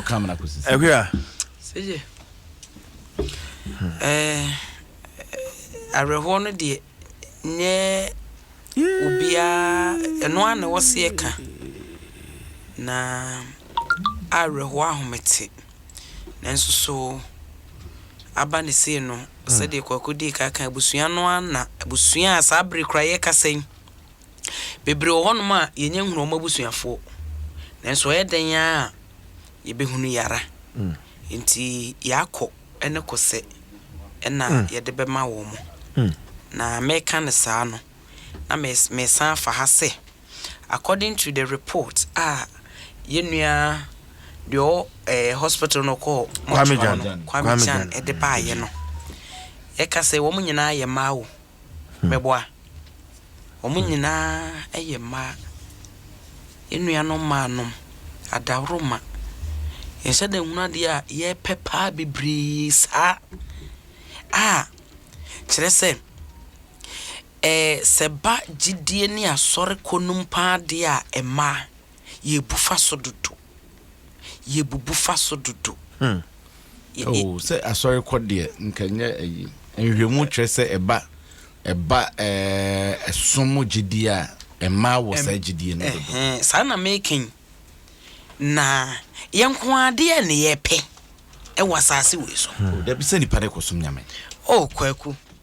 ɛhwɛ a awerɛhoɔ no deɛ nyɛ obiara ɛno ara na ɛwɔ sɛ yɛka na awerɛhoɔ ahomete nanso so aba ne sei no sɛdeɛ kwaku dii ka kan abusua no ara na abusua a saa bere kora yɛkasa yi Bebree wɔ hɔnom a yɛnnya nhunuu wɔn abusuafoɔ, nanso ɛyɛ dɛn ara a, yɛbɛhunu yɛara. Enti yɛakɔ ne kɔsɛ na yɛde bɛma wɔn. Na mereka no saa no, na meresan afa ha sɛ, according to the report a yɛn nua deɛ ɔwɔ ɛɛ hospital no ɔkɔɔ mortuary no, Kwame Gyan, de baeɛ no, ɛka sɛ wɔn nyinaa yɛ mmaa o. Mɛboa. Wɔn nyinaa yɛ mmaa. Yɛn nuanom mmaa nom, adaworoma. Nhyɛ da nhunu adeɛ a yɛpɛ paa bebree saa a, kyerɛ sɛ, ɛɛ sɛ ɛba gyidie ne asɔre kɔ nom paa deɛ a, mmaa, yɛbu fa so dodo. Yɛbubu fa so dodo. Hmm. Oh, sɛ asɔre kɔ deɛ nka nyɛ ayi. Nhwɛmu kyerɛ sɛ ɛba ɛba ɛɛ ɛsom gyidie a ɛmaa wɔ saa gyidie no dodo. Saa na meka yi. Na yɛn nko adeɛ na yɛpɛ ɛwɔ asase wei so. Hmm. Dabi sɛ nipa de kɔsom nyame. Oh, kwaku.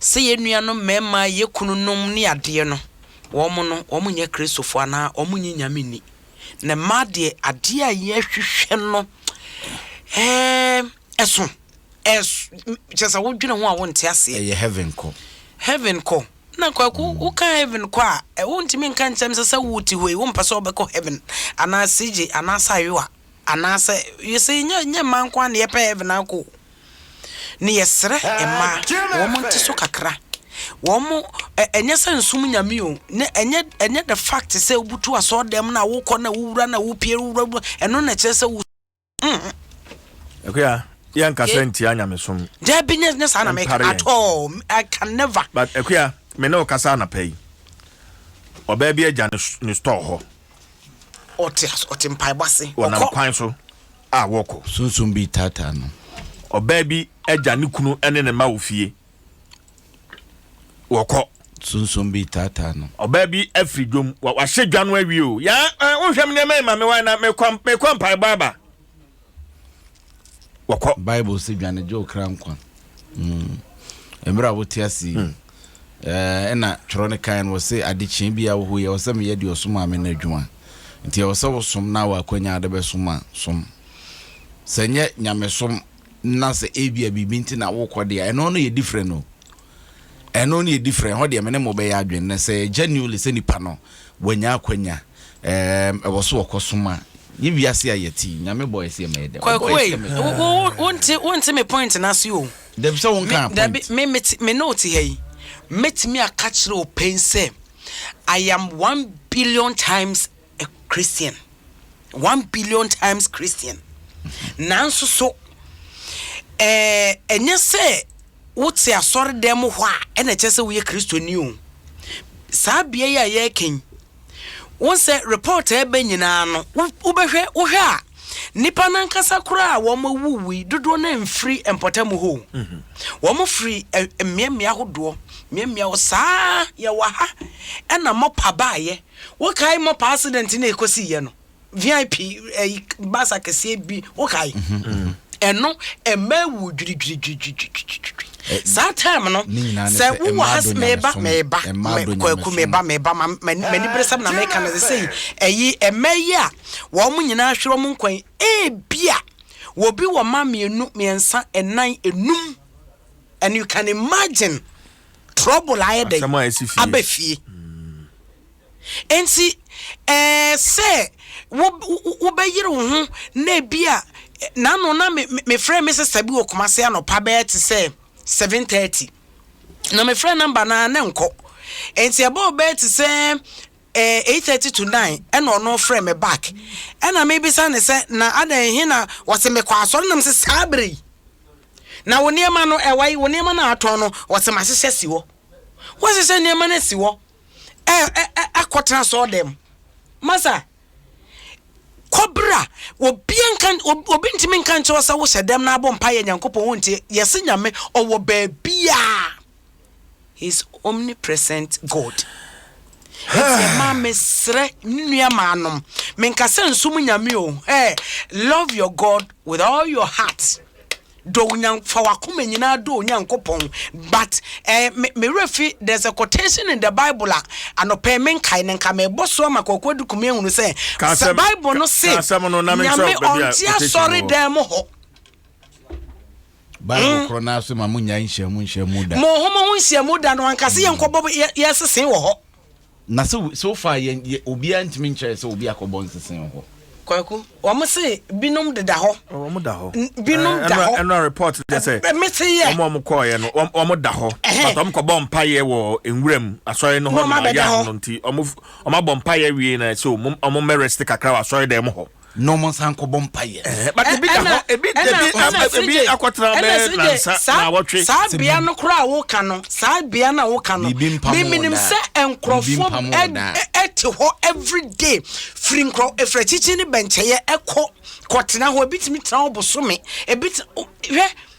sɛ yɛn nuanom mmarima a ɛyɛ kununom ne adeɛ no, wɔn no, wɔn nyɛ Kristofoɔ anaa wɔn nnye Nyame nni. Na mmaa deɛ, adeɛ a yɛhwehwɛ no, ɛɛm, ɛso, ɛs, kyerɛ sɛ wo dwene ho a wo nte aseɛ. Ɛyɛ heaven kɔ. Heaven kɔ. Na kwaku, wo ka heaven kɔ a, ɛ, wo ntumi nka nkyɛm sɛ sɛ wo te hɔ yi, wo mpɛ sɛ wo bɛkɔ heaven, anaa CJ, anaa sɛ ayowa, anaa sɛ, you see, nyɛ, nyɛ mmaa nko ara na yɛpɛ heaven akɔ o. Ne yɛsrɛ mmaa wɔn nte so kakra wɔn ɛ ɛnyɛ sɛ nsom nyame o ne ɛnyɛ ɛnyɛ the fact sɛ wobutu asɔɔ dɛm na wokɔ na wowura na wopie wowura wura ɛno na ɛkyerɛ sɛ wo. Mm. Akuya, yɛ nkasa okay. ntia nyamesom. Dɛ bi nyɛ nyɛ saa na mɛka at all I can never. But akuya, me ne ɔkasa anapa yi. Ɔbaa bi agya ne store hɔ. Ɔte ɔte mpaebɔ ase. Ɔnam kwan so. a wɔkɔ. Sunsum bi taataa no. Ɔbaa bi agya ne kunu ne ne mma wɔ fie. Wɔkɔ. Sunsum bi taataa no. Ɔbaa bi afiri dwom. Wahyɛ dwa no awie o. Ya eh, wohwɛ me nneɛma yi ma me wan na mekɔ mekɔ mpaebɔ aba. Wɔkɔ. Bible si dwane gye wo kra nkwa. Mm. Mmerɛ a wote ase yi. Mm. Ɛna twerɛ no kan no wɔse adekyeɛ bia wɔ hɔ yi ɛwɔ sɛ meyɛ deɛ ɔsomaa me no adwuma nti ɛwɔ sɛ wosom na wɔ akwanya de bɛsom a som sɛ nyɛ nyamesom na sɛ ebia biribi nti na wokɔ deɛ ɛno no yɛ different no ɛno no yɛ different hɔ deɛ me ne mo bɛyɛ adwene na sɛ genuinely sɛ nipa no wɔanya akwanya ɛwɔ so wɔkɔ som a nye wiase a yɛte nyame bɔ ɛsɛ ma yɛdɛ kwaku wei wonte wonte me point no ase o Dabi sɛ wonkaa point. Dabi, me me te, me ne wo te ha yi. Mɛtumi aka kyerɛ wo pɛn sɛ, I am one billion times a Christian. One billion times Christian. Nanso so, ɛɛ, ɛnyɛ sɛ wote asɔre dɛm hɔ a, ɛna ɛkyɛ sɛ woyɛ Kristoni o. Saa bea yi a yɛreka yi, Wohu sɛ report a ɛba nyinaa no, wobɛhwɛ, wohwɛ a, nnipa no ankasa koraa a wɔawuwui dodoɔ no amfiri mpɔtam hɔ o. Wɔfiri mmeammea ahodoɔ, mmeammea hɔ saa. Yɛwɔ ha na mɔpa baeɛ. Wokae mɔpa accident no a ɛkɔsiiɛ no? vip ɛyi bus akɛseɛ bi wokae ɛno ɛma awu dwiridwiridwiridwiridwiri saa time no sɛ wowɔ ha sɛ meba meba kwaku meba meba m'ani bere sɛm na meka no sɛ ɛyi ɛma yi a wɔn nyinaa hwerɛ wɔn nkwan ebia wɔbi wɔ ma mmienu mmiɛnsa ɛnan enum and you can imagine trouble ayɛ dɛ abɛfie Enti, ɛɛ sɛ wo wobɛyere wo ho na ebi a n'ano na me mefrɛ me sista bi wɔ Kumasi anɔpa bɛyɛ te sɛ seven thirty na mefrɛ namba no a na nkɔ enti ɛbɔɔ bɛyɛ te sɛ ɛɛ eight thirty to nine ɛna ɔno frɛ me back ɛna mebisa ne sɛ na adan he na wɔse mekɔ asɔre nam sɛ saa bere yi na wo nneɛma no ɛwɔ yi wo nneɛma no a atɔn no wɔse mahyehyɛ si hɔ wɔhyehyɛ nneɛma no si hɔ ɛ ɛ ɛ akɔtena asɔɔdɛm masa kɔbra obiara nka obi ntumi nka nkyɛw sɛ wohyɛ dɛm na abɔ mpa yɛ nyankopɔn wontie yɛse nyame ɔwɔ baabiaa his omnipresent god ɛti ɛma mesrɛ ne nua maanom menka sɛ nsom nyame o hey, love your god with all your heart Dɔ Onyank fa w'akoma nyinaa dɔ Onyankopɔn but eh me me werɛ fi there's a quotation in the Bible a anɔpa yi menkae no nka mebɔ so ama Kwaku Adukumeh ahunu sɛ Ka sɛ asɛm, Bible ka, no se ka asɛm no na menkyerɛ Nyame wo baabi a ɔnte quotation no wɔ. asɔredan mu hɔ. Bible korɔ no ara se ma monnyae nhyiamu nhyiamu da. Monho mo ho nhyiamu da no ankasa yɛnkɔbɔ yɛ yɛsese wɔ hɔ. Na so so far yɛ yɛ obiara ntumi nkyɛrɛ sɛ obi akɔbɔ nsese wɔ hɔ. Kwaku, wɔn se binom deda hɔ. Wɔn da hɔ. Binom da hɔ. Ɛnura report deɛ sɛ. Mese yɛ. Wɔn a wɔn kɔɔyɛ no, wɔn wɔn da hɔ. But wɔn kɔ bɔ mpaeɛ wɔ nwura mu asɔre no hɔ. Na wɔn abɛda hɔ. Nti wɔn wɔn abɔ mpaeɛ wie na ɛsɛ wɔn wɔn mɛ rest kakra wɔ asɔre dɛm hɔ. na wɔn nsa nkɔbɔ mpa yɛ. Eh, but ebi da hɔ ebi ebi ebi akɔtena bɛɛ nansa na awɔtwe. saa bea no koraa woka no saa bea no a woka no miminim sɛ nkurɔfoɔ ɛte hɔ everyday firi nkurɔ efirɛ kyikyi ne bɛnkyɛyɛ ɛkɔ kɔtena hɔ ebi tumi tena hɔ bosome ebi hwɛ.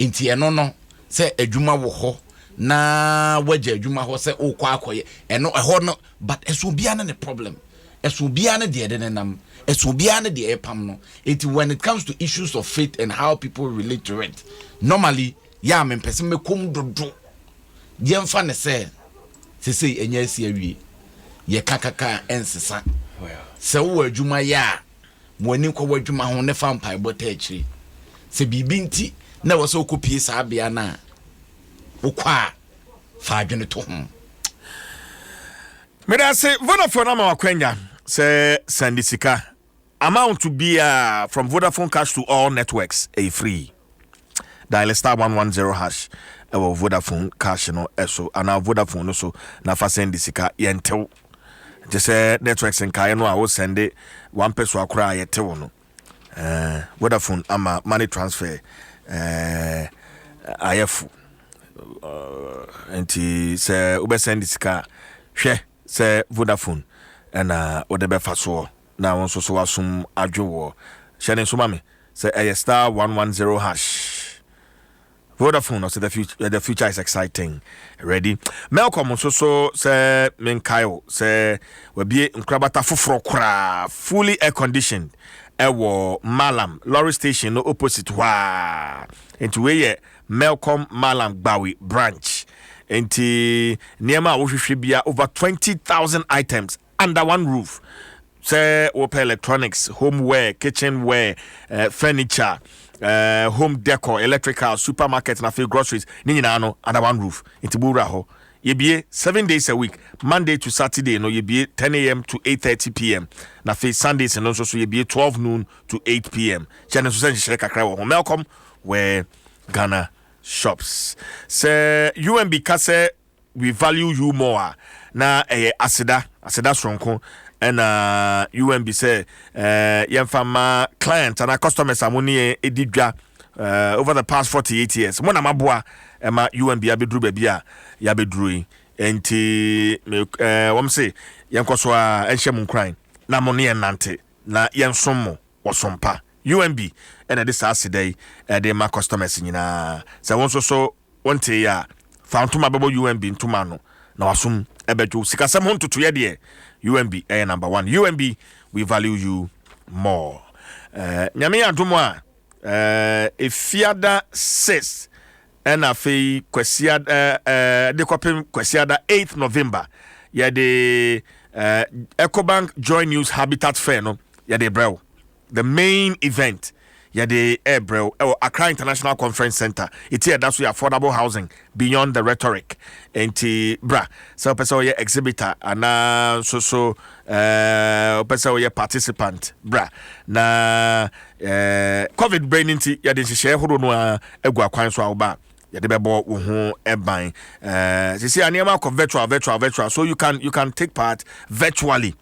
Nti ɛno no sɛ adwuma wɔ hɔ na wagya adwuma hɔ sɛ wokɔ akɔyɛ ɛno ɛhɔ no but ɛso obiara ne ne problem ɛso obiara ne deɛ ɛde ne nam ɛso obiara ne deɛ ɛpam no eti when it comes to issues of faith and how people relate to it normally yɛ a mempɛ sɛ mɛkɔm dodo yɛmfa ne sɛ sesei ɛnyɛ asi awie yɛka kaka ɛnsesa sɛ wowɔ adwuma yɛ a ma w'ani nkɔ w'adwuma ho na fa mpaebɔ taa akyire. Sɛ biribi nti na ɛwɔ sɛ wokɔpie saa bea no a wokɔ a, fa adwene to ho. Meda ase Vodafone ama wakwanya sɛ sɛnde sika amount biara from Vodafone cash to all networks ɛyɛ free. Dial star one one zero hash ɛwɔ Vodafone cash no ɛso anaa Vodafone no so na fa sɛndi sika yɛntew gye sɛ networks nkaeɛ no a wo sɛnde wampɛ so akora a yɛtew no eh, Vodafone ama money transfer eh, ayɛfo eh, nti sɛ wobɛsɛnde sika a hwɛ sɛ Vodafone ɛna wode bɛfa soɔ na wo nso so w'asom adwo woɔ. Hyɛ no nso ma me sɛ ɛyɛ star one one zero hash. Vodafone ɔsɛ the future, eh, the future is exciting. Ready? Melcom nso so sɛ menkae wo sɛ wabie nkorabata foforɔ koraa fully air conditioned ɛwɔ Malam lorry station no opposite hɔ a. Nti wei yɛ Melcom Malam Gbawi branch. Nti nneɛma a wohwehwɛ bia over 20,000 items Under one roof, Sɛ wopɛ electronics, home ware, kitchen ware, eh, furniture, eh, home decor, electrical, supermarket, na afei groceries, ne nyinaa no under one roof. Nti bo wura hɔ. Yɛbie seven days a week, Monday to Saturday no yɛbie ten AM to eight thirty PM, na afei Sundays no nso so yɛbie twelve noon to eight PM. Hyɛ no nso sɛ nhyehyɛe kakra wɔ ho. Melcom ware Ghana shops. Sɛ UMB ka sɛ We value you more a, na ɛyɛ aseda, aseda soronko ɛna UMB sɛ eh, yɛmfa ma client anaa customers a mo ne yɛn edi dwa eh, over the past 48 years. Mo na maboa ɛma UMB abɛduru baabi a yɛabɛduru yi. Nti me, eh, wɔm se yɛnkɔ so a ɛnhyɛ mo nkuran na mo ne yɛn nante na yɛnsom mo wɔ som pa. UMB ɛna ɛde saa aseda yi ɛde ma customers nyinaa sɛ wɔn nso so Wontee yɛ a, fa wo ntoma bɛbɔ UMB ntoma ano na w'asom bɛdwo. Sikasɛm ho ntotoeɛ deɛ, UMB yɛ number one. UMB, we value you more. Eh, Nyame yɛ adom a, eh, Efiada 6 ɛna afei Kwasiada, eh, de kɔpem Kwasiada 8 November, yɛde eh, Ecobank Joy News Habitat Fair no yɛde brɛ wo. The main event yɛde rebrɛ wo wɔ Accra International Conference Center. Eti a ɛda so yɛ affordable housing beyond the rhetoric. Nti bra sɛ wopɛ sɛ woyɛ exhibitor anaa nso so eh, wopɛ sɛ woyɛ participant bra na eh, covid berɛ no nti yɛde nhyehyɛeɛ horow no a agu akwan so a woba a yɛde bɛbɔ wo ho ban eh, sisi a nneɛma akɔ virtual virtual virtual so you can you can take part virtually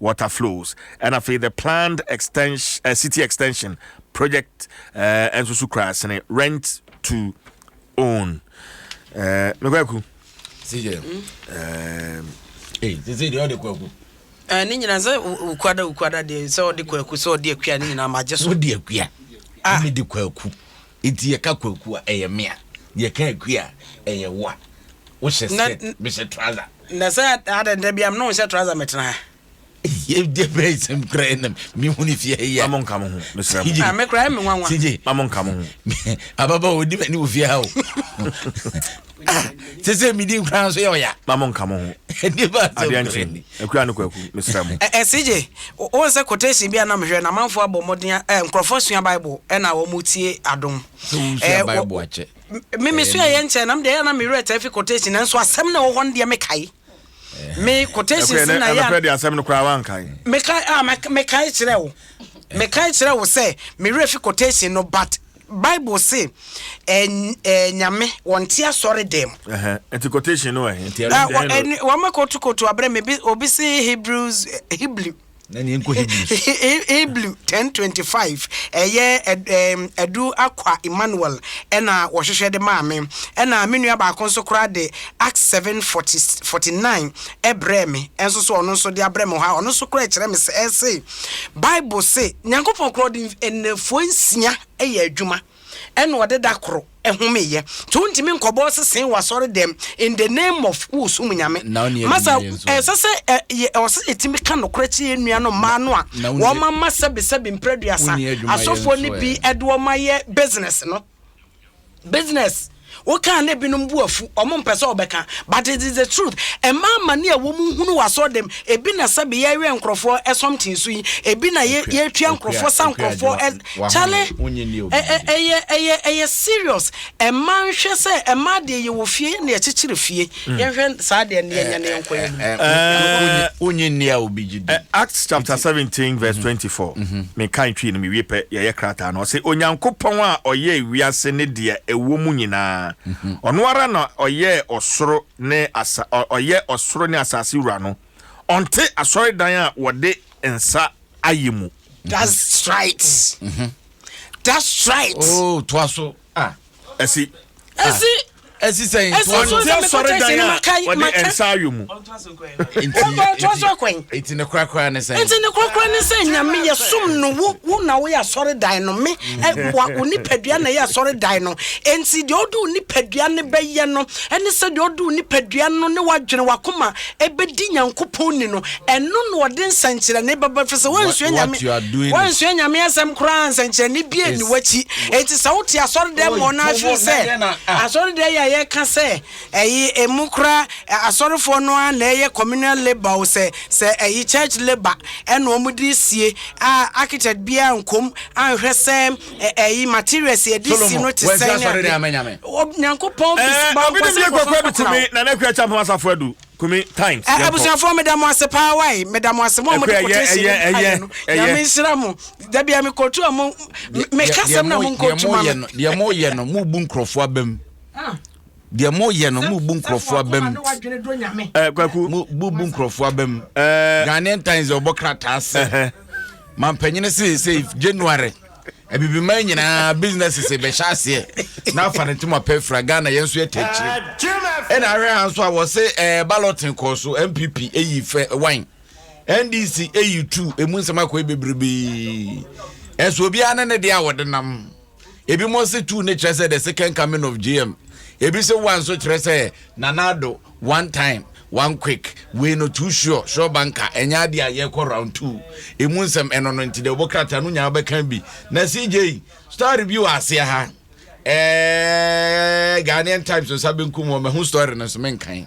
water flows ɛna afei the planned extension, uh, city extension project uh, ɛnso so kura sene rent to own uh, mekwaku sɛ sɛ deɛ ɔde kwaku eh, ne nyina sɛ wokwada wokwada deɛ sɛ ɔde kwaku sɛ ɔde akua ne nyina magye so wode akua ah. mede kwaku Enti yɛka kwaku a, ɛyɛ me a. Yɛka akui a, ɛyɛ wo a. Wohyɛ skirt, mehyɛ trouser. Na sɛ adɛn da biara me ne wo nhyɛ trouser metena ha? Ɛdeɛ bɛn nsɛm koraa yɛ na mehu no fie ha yi a? Ma mo nka mo ho, mesrɛ mo. Ah, me koraa ɛyɛ me nwanwa. CJ, Ma mo nka mo ho. ababaawa ɔdi m'ani wɔ fie ha o. sɛ sɛ medi nkora nso yɛ ɔya ma mo nka mo ho adeɛ nkye akura no kwaku mesrɛ mo ɛsigye wo sɛ quotation bi a na mehwɛ na amanfoɔ abɔ mmɔden eh, nkurɔfoɔ sua bible ɛna wɔn tie adom eh, meme sua yɛ nkyɛn nam deɛ ɛyɛ na mewerɛ taa fi quotation nanso asɛm na ɛwɔ hɔ no deɛ mekae me quotations na yɛ ɛnɔpɛ de asɛm no koraa wankae mekae a mekae kyerɛ wo mekae kyerɛ wo sɛ mewerɛ fi quotation no but bible se nyame wɔnte asɔre dɛm nti quotation no ɛhe wɔma kotokoto aberɛ me obi se hebrews hebrew na ne nkɔ Hebrews. Hebrew ten twenty five ɛyɛ ɛdu akwa Emmanuel ɛna wɔhwehwɛ de maa me ɛna me nua baako nso koraa de Act seven forty forty nine ɛbrɛ me ɛnso so ɔno nso de abrɛ me hɔ a ɔno nso koraa ɛkyerɛ me sɛ ɛse Bible se Nyankopɔn korɔ de nnafuo nsia ɛyɛ adwuma. ɛna ɔde da koro homeeɛ nti wontumi nkɔbɔ sesee wɔ asɔre dɛm in the name of wosom nyame masa ɛsɛ sɛ ɛwɔ sɛ yɛtumi ka nokorɛ kyerɛ yɛ nnua no mmaa no a wɔma ma sɛbesɛbe mprɛ aduasa asɔfoɔ no bi ɛde wɔma yɛ business no business Wo kaa na ebinom bo afu ɔmo mpɛ sɛ ɔbɛka but it is the truth ɛma amane a wɔn hunu wɔ asɔre dɛm ebi na sɛbi yɛwɛn nkorɔfoɔ ɛ something so yi ebi na yɛ Akua, yɛtua Akua, nkorɔfoɔ sa Akua nkorɔfoɔ adwuma, ɛ wahome, kyale wonye nni obi ɛ ɛ bi. ɛyɛ ɛyɛ ɛyɛ serious ɛma nhwɛ sɛ ɛma deɛ yɛwɔ fie yɛ na yɛkyekyere fie Yɛnhwɛ saa adeɛ no yɛnya na yɛnkɔ yɛn anim. Wonye nni a obi gye di. Acts chapter seventeen verse twenty four. Mekan twii no mewie pɛ, yɛyɛ krataa no. Ɔse, Onyankopɔn a ɔyɛɛ wiase ne deɛ ɛwɔ mu nyinaa, ɔno ara na ɔyɛɛ ɔsoro ne asa, ɔyɛ ɔsoro ne asase wura no, ɔnte asɔredan a wɔde nsa ayɛ mu. That's right. That's right. Oh, toa so. Ah. ɛsi. ɛsi. ɛsi sɛn. ɛsi so sɛ mi kɔ tɛ sini ma ka yi ma ka. nsa ayɔ mu. nti ne korakora ne sɛn. nti ne korakora ne sɛn nyame yɛ sum no wo wo na wo yɛ asɔre dan no me ɛ wa wo nipadua na yɛ asɔre dan no nti deɛ ɔde wo nipadua ne bɛyɛ no ɛne sɛ deɛ ɔde wo nipadua no ne wadwene wakoma ɛbɛdi Nyankopɔn ni no, ɛno na ɔde nsɛnkyerɛnne bɛba, ɛfiri sɛ woansua Nyame, woansua Nyame asɛm koraa, nsɛnkyerɛnne biara nni w'akyi. Enti sɛ wote asɔredɛm hɔ na ahwere sɛ asɔredɛm yɛ a yɛka sɛ ɛyi emu koraa asɔrefoɔ no ara na ɛyɛ communal labour o, sɛ sɛ ɛyi church labour ɛna wɔn de sie a architect biara nkɔm anhwɛ sɛ ɛyi materials yɛde si no te sɛn ne ade nyankopɔn bisibɔnkɔsɛ kɔfɔkɔkɔnɔ na na kura kyɛ mpama safo adu kumi times yɛnkɔ abusuafoɔ meda mo ase paa wae meda mo ase mo a mode kote si ne ayɛ no nyame nhyira mo da bia mekɔtu a mo meka sɛm na monkɔtu ma me deɛ moyɛ no mobu nkurɔfoɔ abam Deɛ mo yɛ no mo bu nkurɔfoɔ aba mu. Ɛɛ kwaku. Mo bu bu nkurɔfoɔ aba mu. Ɛɛ. Ghanaian Times ɔbɔ krataa sɛ. Mampanyini se se January. Abibiman nyinaa business se bɛhyɛ aseɛ. Na afa ne ntoma pɛ fira Ghana yɛn nso yɛ tɛkyiri. Ɛna ahwɛ ha nso a wɔse ɛɛ balloting kɔɔ so NPP eyi fɛ wine. NDC eyi two emu nsɛm akɔ ebebrebe. Ɛso obiara ne ne deɛ a wɔde nam. Ebinom se two no kyerɛ sɛ the second coming of JM. Ebi se one nso kyerɛ sɛ Nana Addo one time one quick wei no too sure sure banka ɛnyɛ adeɛ a yɛkɔ round two emu nsɛm ɛno no nti deɛ ɔbɔ krataa no nyinaa bɛka bi na CJ story bi wɔ aseɛ ha ɛɛ Ghanaian Times nsa benkum wɔn mɛho story no nso menkan.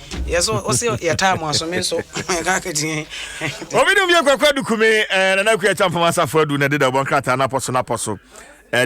Yes, so what's your, your time was me so I can't get in. Obi dum ye kwakwa dukume eh, na na kuya champa masa fadu na deda bon krata na poso na poso. Eh,